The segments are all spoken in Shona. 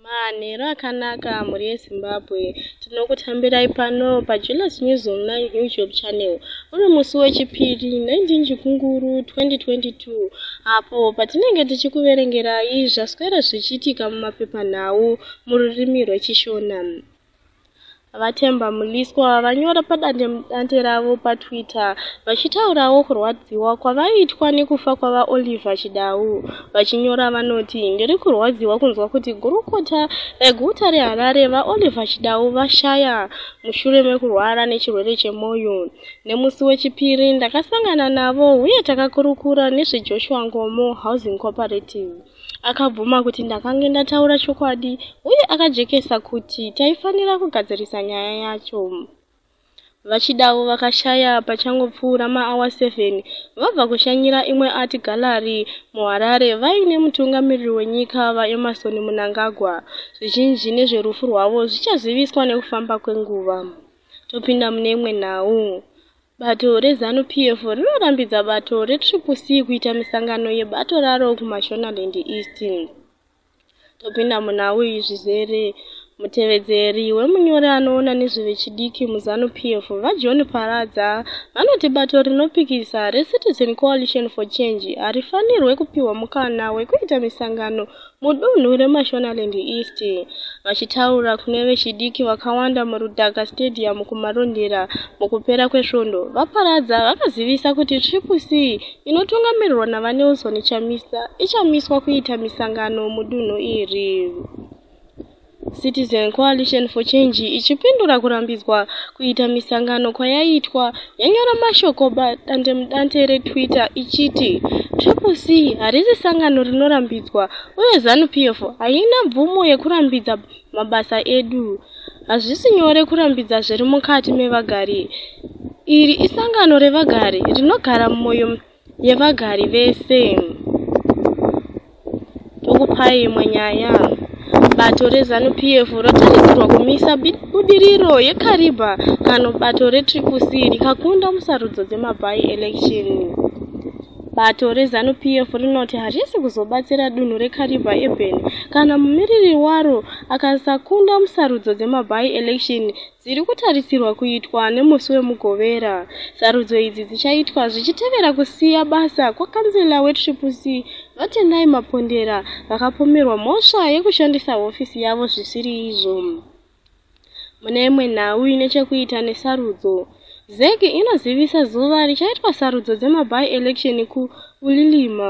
Manheru akanaka mhuri yeZimbabwe, tinokutambirai pano paJealous News Online YouTube channel. Uri musi wechipiri 19 Chikunguru 2022 apo patinenge tichikuverengerai zvaswera zvichiitika mumapepanhau mururimi rweChishona. VaThemba Mliswa vanyora padandemudande ravo paTwitter vachitaurawo kurwadziwa kwavaitwa nekufa kwavaOliver Chidau. Vachinyora vanoti, Ndiri kurwadziwa kunzwa kuti gurukota reguta reHarare VaOliver Chidau vashaya mushure mekurwara nechirwere chemwoyo. Nemusi weChipiri ndakasangana navo uye takakurukura nezveJoshua Nkomo Housing Cooperative. Akabvuma kuti ndakange ndataura chokwadi uye akajekesa kuti taifanira kugadzirisa nyaya yacho. Vachidavo vakashaya pachangopfuura maawa 7 vabva kushanyira imwe art gallery muHarare vaine mutungamiriri wenyika VaEmmerson Mnangagwa. Zvizhinji nezverufu rwavo zvichaziviswa nekufamba kwenguva. Topinda mune imwe nhau. Bato reZanu PF rinorambidza bato reTriple C kuita misangano yebato raro kuMashonaland East. Topinda muna uyu zvizere. Mutevedzeri wemunyori anoona nezvevechidiki muZanu PF, VaJohn Paradza, vanoti bato rinopikisa reCitizen Coalition for Change harifanirwe kupihwa mukana wekuita misangano Mudunhu reMashonaland East, vachitaura kune vechidiki vakawanda muRudhaka Stadium kuMarondera mukupera kwesvondo, VaParadza vakazivisa kuti Triple C inotungamirirwa naVaNelson Chamisa ichamiswa kuita misangano mudunhu iri. Citizen Coalition for Change ichipindura kurambidzwa kuita misangano kwayaitwa yanyora mashoko padandemudande reTwitter ichiti Triple C harisi sangano rinorambidzwa uye ZANU-PF haina mvumo yekurambidza mabasa edu. Hazvisi nyore kurambidza zviri mukati mevagari. Iri isangano revagari rinogara mumwoyo yevagari vese. Tokupai imwe nyaya. Bato reZanu PF rotarisirwa kumisa budiriro yeKariba kano bato reTriple C rikakunda musarudzo dzemaby election. Bato reZanu PF rinoti harisi kuzobatsira dunhu reKariba Urban kana mumiriri waro akasakunda musarudzo dzemaby election dziri kutarisirwa kuitwa nemusi wemugovera sarudzo idzi dzichaitwa zvichitevera kusiya basa kwakanzela wetriple c vatendai mapondera vakapomerwa mhosva yekushandisa hofisi yavo zvisiri izvo mune imwe nhau ine chekuita nesarudzo zec inozivisa zuva richaitwa sarudzo dzemaby election kuulilima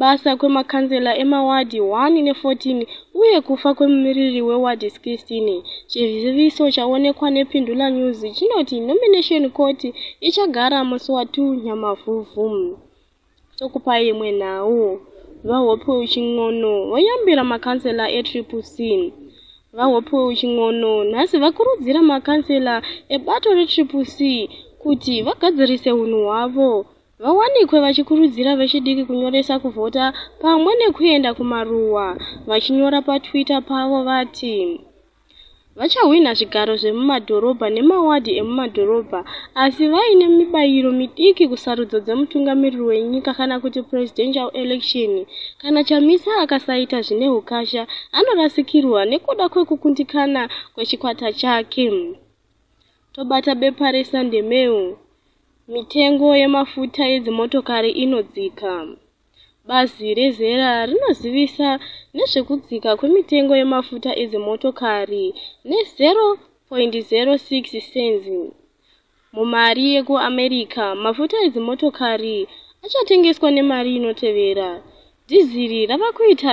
basa kwemakanzela emawadhi 1 ne14 uye kufa kwemumiriri wewadhi 16. Chiziviso chaonekwa nePindula News chinoti nomination court ichagara musi wa 2 Nyamavhuvhu. Tokupai imwe nhau. VaHopew Chin'ono voyambira makanzela eTriple C. VaHopew Chin'ono nhasi vakurudzira makanzela ebato reTriple C kuti vagadzirise hunhu hwavo vawanikwe vachikurudzira vechidiki kunyoresa kuvhota pamwe nekuenda kumaruwa vachinyora patwitter pavo vati vachahwina zvigaro zvemumadhorobha nemawadhi emumadhorobha asi vaine mibayiro midiki kusarudzo dzemutungamiriri wenyika kana kuti presidential election kana chamisa akasaita zvine ukasha anorasikirwa nekuda kwekukundikana kwechikwata chake Tobata bepa reSunday Mail, mitengo yemafuta edzimotokari inodzika. Bazi rezera rinozivisa nezvekudzika kwemitengo yemafuta edzimotokari ne-0.06 cents mumari yekuAmerica. Mafuta edzimotokari achatengeswa nemari inotevera. Dhiziri rava kuita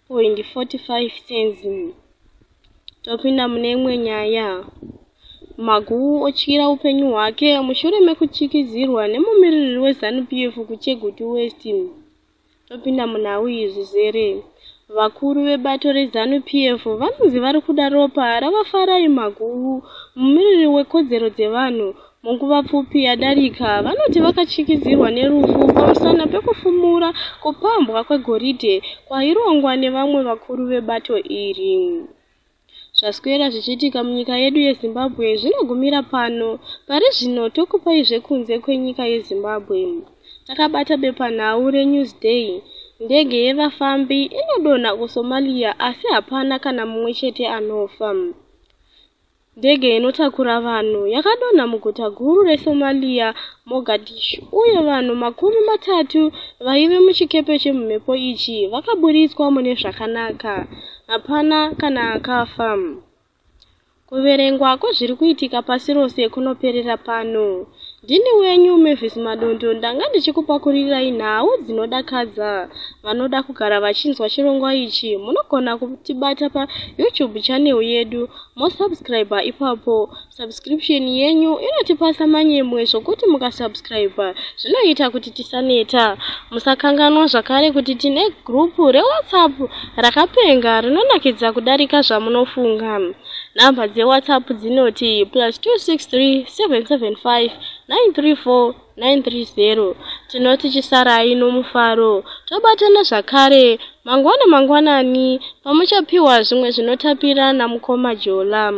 point 45 cents topinda mune imwe nyaya maguwu otyira upenyu hwake mushure mekutyikizirwa nemumiririri wezanu p f kuchegutu west topinda munhau iyi zvizere vakuru vebato rezanu p f vanonzi vari kuda ropa ravafarai maguwu mumiriri wekodzero dzevanhu Munguva pfupi yadarika, vanoti vakatyisidzirwa nerufu pamusana pekufumura kupambwa kwegoridhe kwairongwa nevamwe vakuru vebato iri. Zvaswera zvichiitika munyika yedu yeZimbabwe zvinogumira pano. Pari zvino tokupai zvekunze kwenyika yeZimbabwe. Takabata bepanhau reNewsday. Ndege yevafambi inodonha kuSomalia asi hapana kana mumwe chete anofa. Ndege inotakura vanhu yakadonha muguta guru reSomalia, Mogadishu, uye vanhu makumi matatu vaive muchikepe chemumhepo ichi vakaburitswa mune zvakanaka. Hapana kana akafa. Kuverengwa kwezviri kuitika pasi rose kunoperera pano. Ndini wenyu Mavis Madondo ndanga ndichikupakuririrai nhau dzinodakadza. Vanoda kugara vachinzwa chirongwa ichi munogona kutibata paYouTube channel yedu mosubscriber ipapo subscription yenyu inotipasa manyemwe zvokuti mukasubscriber zvinoita kuti tisaneta musakanganwa zvakare kuti tine gurupu rewhatsapp rakapenga rinonakidza kudarika zvamunofunga nhamba dzewhatsapp dzinoti plus 263 775 934 930 tinoti chisarai nomufaro tobatana zvakare mangwana mangwanani pamuchapiwa zvimwe zvinotapira namukoma jolam